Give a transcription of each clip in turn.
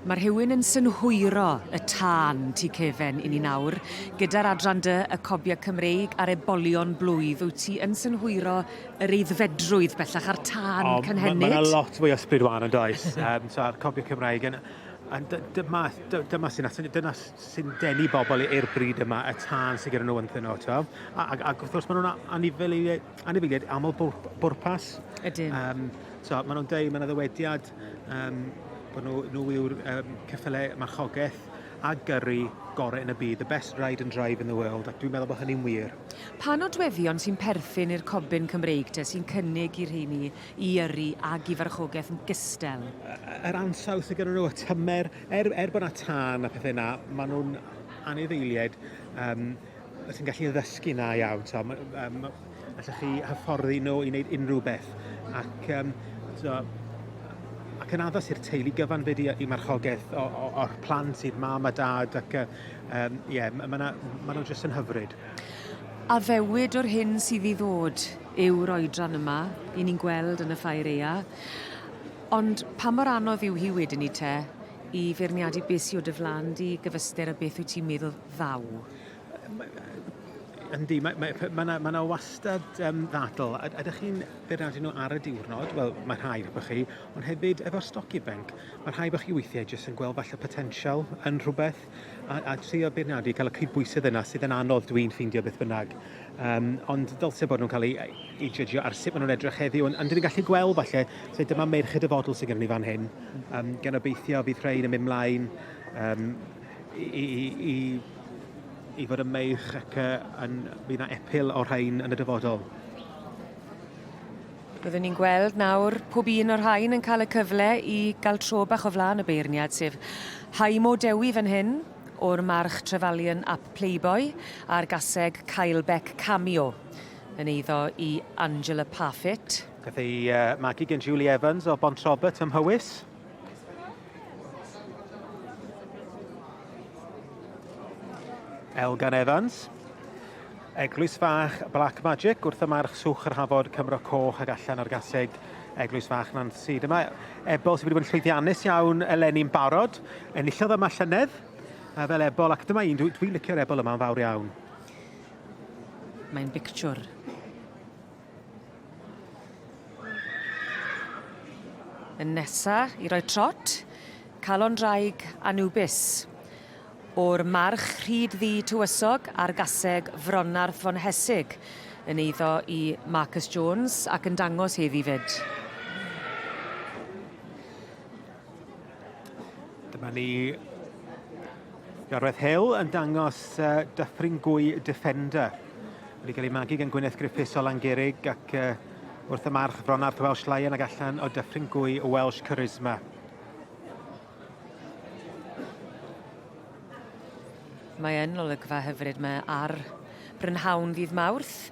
Mae rhywun yn synhwyro y tân tu cefen i ni nawr, gyda'r adran dy y cobia Cymreig a'r ebolion blwydd, wyt ti yn synhwyro yr eiddfedrwydd bellach a'r tân oh, cynhenid? Mae yna lot mwy o ysbryd wan yn does, um, so a'r cobia Cymreig yn And dyma, dyma sy'n atyn, dyna sy'n denu bobl i'r bryd yma, y tân sy'n gyda nhw yn nhw, to. Ac, ac wrth gwrs, maen nhw'n anifeiliaid, anifeiliaid aml bwrpas. Ydyn. Um, so, maen nhw'n dweud, maen nhw ddywediad Um, bod nhw, nhw yw'r um, ceffylau marchogaeth a gyrru gorau yn y byd, the best ride and drive in the world, ac dwi'n meddwl bod hynny'n wir. Pa nodweddion sy'n perthyn i'r cobyn Cymreig te sy'n cynnig i'r rheini i yrru ag i farchogaeth yn gystel? Yr ansawdd sydd gyda nhw, y tymer, er, er bod yna tân a pethau yna, maen nhw'n anifeiliaid um, Wyt ti'n gallu ddysgu na iawn, so, um, allwch chi hyfforddi nhw i wneud unrhyw beth. Ac, um, so, ac yn addas i'r teulu gyfan fe di i marchogaeth o'r plant i'r mam a dad ac um, yeah, maen ma, ma nhw jyst yn hyfryd. A fewyd o'r hyn sydd i ddod yw'r oedran yma, i ni'n gweld yn y ffair eia. Ond pa mor anodd yw hi wedyn i te i feirniadu beth sydd o dy flan di gyfystyr a beth wyt ti'n meddwl ddaw. Yndi, mae, mae, mae, na, mae na wastad um, ddadl. A, a ydych chi'n beirniadu nhw ar y diwrnod? Wel, mae rhai efo chi, ond hefyd efo'r stoc ifanc, mae rhai efo chi weithiau jyst yn gweld falle potensial yn rhywbeth a, a trio beirniadu, cael y cydbwysedd yna sydd yn anodd dwi'n ffeindio beth bynnag. Um, ond dylse bod nhw'n cael eu, eu judgio ar sut maen nhw'n edrych heddiw, ond, ond dyn ni'n gallu gweld falle, so dyma merched y fodl sydd gen ni fan hyn, um, gan obeithio fydd rhain yn mynd mlaen um, i, i, i, i fod yn meirch ac uh, yn, bydd yna epil o'r rhain yn y dyfodol. Byddwn ni'n gweld nawr pob un o'r rhain yn cael y cyfle i gael tro bach o flaen y beirniad, sef Haimo Dewi fan hyn, o'r march Trevalian ap Playboy, a'r gaseg Caelbeck Cameo, yn eiddo i Angela Parfitt. Gath ei uh, magu gen Julie Evans o Bont Robert ym Mhywys. Elgan Evans. Eglwys Fach Black Magic wrth y march swch yr hafod Cymro Coch ag allan o'r gaseg Eglwys Fach Nancy. Dyma Ebol sydd wedi bod yn llwyddiannus iawn eleni'n barod. Enillodd yma llynedd fel Ebol ac dyma un, dwi'n dwi licio'r Ebol yma'n fawr iawn. Mae'n bictiwr. Yn nesa i roi trot, calon draig Anubis. O'r march rhyd ddi tywysog ar gaseg Fronarth von Hesig, yn eiddo i Marcus Jones ac yn dangos hedd i fyd. Dyma ni Gareth Hill yn dangos uh, Dyffringwy Defender. Wedi cael ei magu gan Gwyneth Griffiths o Langerig ac uh, wrth y march Fronarth Welsh Lion ac allan o Dyffringwy Welsh Charisma. Mae yn olygfa hyfryd mae ar brynhawn ddydd Mawrth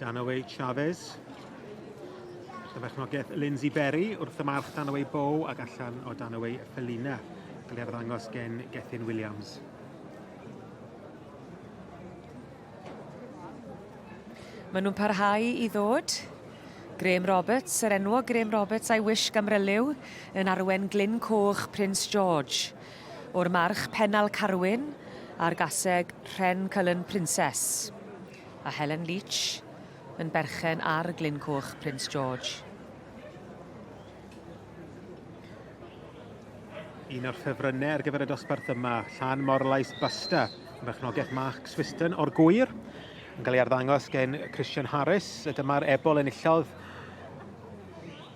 Danaway Chavez. Dyna berchnogaeth Lindsay Berry wrth y march Danaway Bow ac allan o Danaway Felina. Gael ei arddangos gen Gethin Williams. Maen nhw'n parhau i ddod. Graham Roberts, yr enwog Graham Roberts a'i wish gamryliw yn arwen Glyn Coch Prince George. O'r march Penal Carwyn a'r gaseg Rhen Cullen Princess. A Helen Leach yn berchen ar Glyn Coch Prince George. Un o'r ffefrynnau ar gyfer y dosbarth yma, Llan Morlais Basta, yn berchnogaeth Mark Swiston o'r Gwyr, yn cael ei arddangos gen Christian Harris, a dyma'r ebol enillodd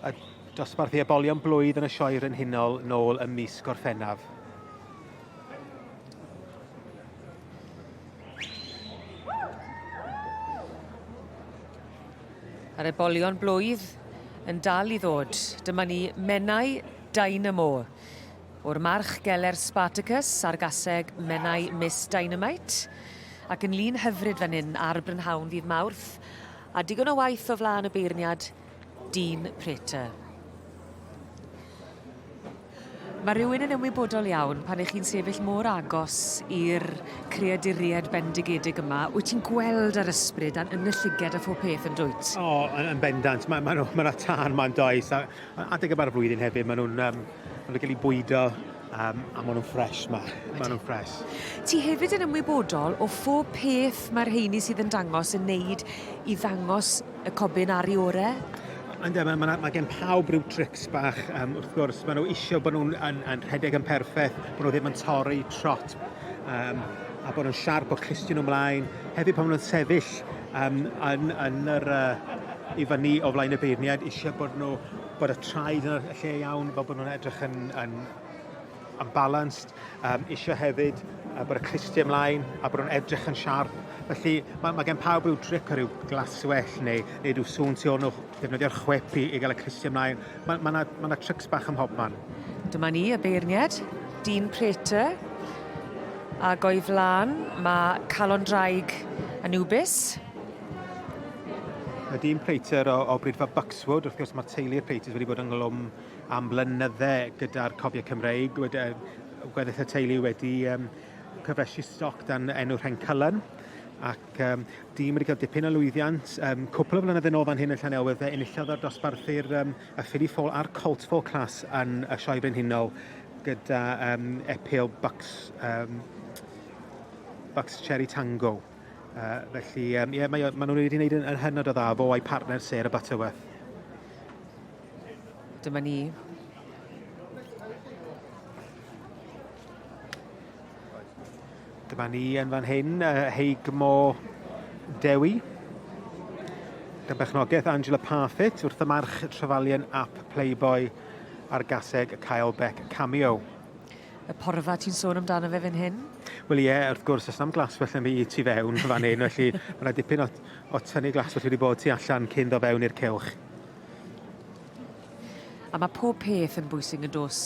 y dosbarth i ebolion blwydd yn y Sioe Frenhinol nôl ym mis Gorffennaf. A'r ebolion blwydd yn dal i ddod. Dyma ni Menai Dynamo. O'r march geler Spartacus ar gaseg Menai Miss Dynamite. Ac yn lun hyfryd fan hyn ar brynhawn ddydd Mawrth. A digon o waith o flaen y beirniad Dean Prater. Mae rhywun yn ymwybodol iawn, pan 'ych chi'n sefyll mor agos i'r creaduried bendigedig yma, wyt ti'n gweld yr ysbryd a'n yn y llyged a phob peth, yn dwyt? O, yn, yn bendant. Mae, mae, mae yna tân ma'n does, a, a adeg yma'r flwyddyn hefyd, maen nhw'n um, ma nhw cael eu bwydo um, a maen nhw'n ffres ma. Maen nhw'n ffres. Ti hefyd yn ymwybodol o phob peth mae'r rheini sydd yn dangos yn neud i ddangos Y cobyn ar i ore? Ynddo, mae, mae, mae gen pawb rhyw trics bach, um, wrth gwrs, maen nhw eisiau bod nhw'n yn, yn rhedeg yn perffaith, bod nhw ddim yn torri trot, um, a bod nhw'n siarp o clustio nhw ymlaen. Hefyd pan maen nhw'n sefyll um, yn, yn yr, uh, i fyny o flaen y beirniad, eisiau bod nhw bod y traed yn y lle iawn, fel bod nhw'n edrych yn, yn yn balanced, um, eisiau hefyd uh, bod y clustiau ymlaen a bod nhw'n edrych yn siarp. Felly mae, mae gen pawb rhyw tric o ryw glaswell neu, neu rhyw sŵn tu ôl nhw, defnyddio'r chwip i, i gael y clustiau ymlaen. Mae, mae, na, mae na trics bach ym mhob man. Dyma ni y beirniad, Dean Prater, a goi flan mae Calon Draig Anubis, Mae dyn Prater o, o Brydfa Buxwood, wrth gwrs mae'r teulu'r Praters wedi bod ynghlwm am blynydde gyda'r Cofiau Cymreig. Gweddill y teulu wedi um, cyfresu stoc dan enw Rhencylen ac um, dîm wedi cael dipyn o lwyddiant. Um, cwpl o flynyddoedd yn ôl fan hyn yn Llanewydd, fe enillodd o'r dosbarthu'r um, y Philly Fall a'r Colt Fall Class yn y Sioe Brenhinol gyda um, epil Bucks, um, Bucks Cherry Tango. Uh, felly, um, yeah, mae, mae nhw wedi gwneud yn, yn hynod o dda fo a'i partner Sarah Butterworth. Dyma ni. Dyma ni yn fan hyn, Heigmo Dewi. Gan bechnogaeth Angela Parfitt wrth y march trefalion ap Playboy ar gaseg y Kyle Beck cameo. Y porfa ti'n sôn amdano fe fan hyn? Wel ie, wrth gwrs, os na'm glas felly mi i tu fewn fan hyn, felly mae yna dipyn o, o tynnu glas felly wedi bod tu allan cyn do fewn i'r cewch. A ma' pob peth yn bwysig yn dos?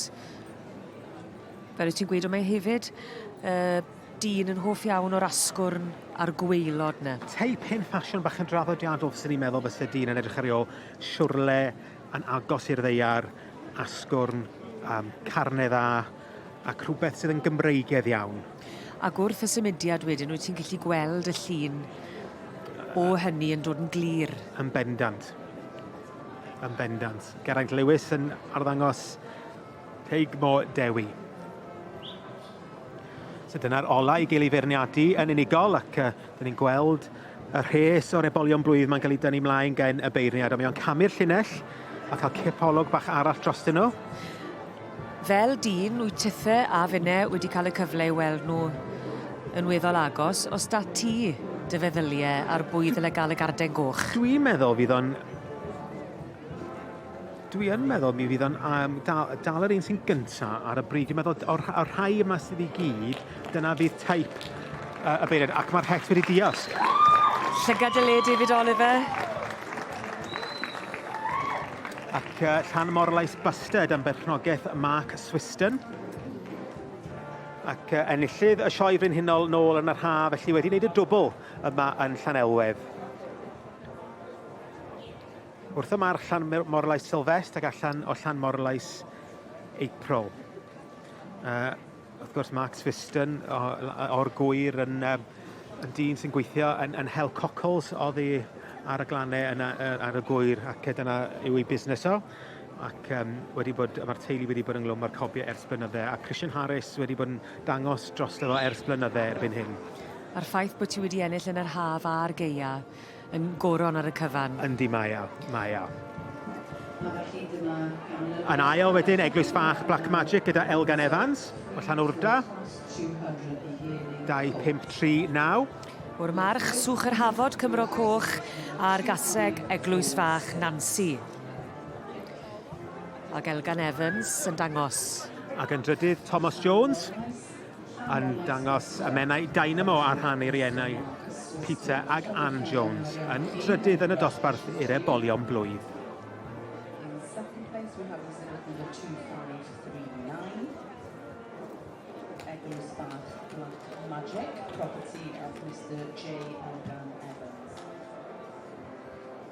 Fel o' ti'n gweud o mae hefyd yy dyn yn hoff iawn o'r asgwrn a'r gwaelod 'na. Teip hen ffasiwn bach yn draddodiadol fyswn i'n meddwl byse dyn yn edrych ar ei ôl siwrle yn agos i'r ddaear, asgwrn, um, carne dda, ac rhywbeth sydd yn Gymreigedd iawn. Ac wrth y symudiad wedyn, wyt ti'n gallu gweld y llun o hynny yn dod yn glir? Yn bendant. Yn bendant. Geraint Lewis yn arddangos Teigmo Dewi. So dyna'r ola i gael ei feirniadu yn unigol ac uh, dyn ni'n gweld y rhes o'r ebolion blwydd mae'n cael ei dynnu mlaen gen y beirniad a mae o'n camu'r llinell a cael cipolwg bach arall drostyn nhw. Fel dyn, wyt tithe a finne wedi cael y cyfle i weld nhw yn weddol agos. Oes 'da ti dy feddylie ar bwy ddyle gael y garden goch? Dwi'n meddwl fydd o'n... Dwi yn meddwl mi fydd o'n um, dal, dal yr un sy'n gynta ar y bryd. Dwi'n meddwl o'r, o'r rhai yma sydd i gyd, dyna fydd taip uh, y beirniad, ac mae'r het wedi diosg. Llygad y le, David Oliver. Ac uh, Llan Morlais Bustard am berchnogaeth Mark Swiston. Ac uh, enillydd y Sioe Frenhinol nôl yn yr haf, felly wedi wneud y dwbl yma yn Llanelwedd. Wrth y march Llan Morlais Sylfest ac allan o Llan Morlais April. Uh, Wrth gwrs, Max Whiston o'r gŵyr yn dyn sy'n gweithio yn Hell Cockles oddi ar y glannau yna ar y gŵyr ac dyna yw ei busnes o ac mae'r teulu wedi bod ynglwm â'r cobiau ers blynydde a Christian Harris wedi bod yn dangos drosto fo ers blynydde erbyn hyn. A'r ffaith bod ti wedi ennill yn yr haf a'r gaeaf, yn goron ar y cyfan. Yndi, mae o, mae o. Yn ail wedyn, Eglwys Fach Black Magic gyda Elgan Evans o Llanwrda. 2539. O'r March, Swch yr Hafod, Cymro Coch, a'r Gaseg, Eglwys Fach Nancy. Ac Elgan Evans yn dangos. Ac yn drydydd, Thomas Jones. yn dangos y Menai Dynamo ar rhan ei rienau, Peter ag Ann Jones, yn drydydd yn y dosbarth i'r ebolion blwydd. Magic, property of Mr J. Morgan Evans.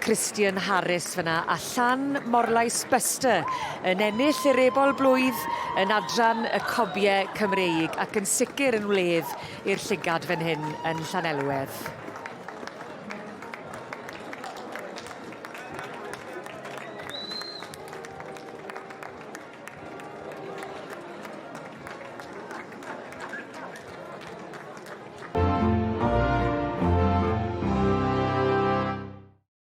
Christian Harris fyna a Llan Morlais Buster yn ennill yr Ebol Blwydd yn adran y Cobiau Cymreig ac yn sicr yn wledd i'r llygad fan hyn yn Llanelwedd.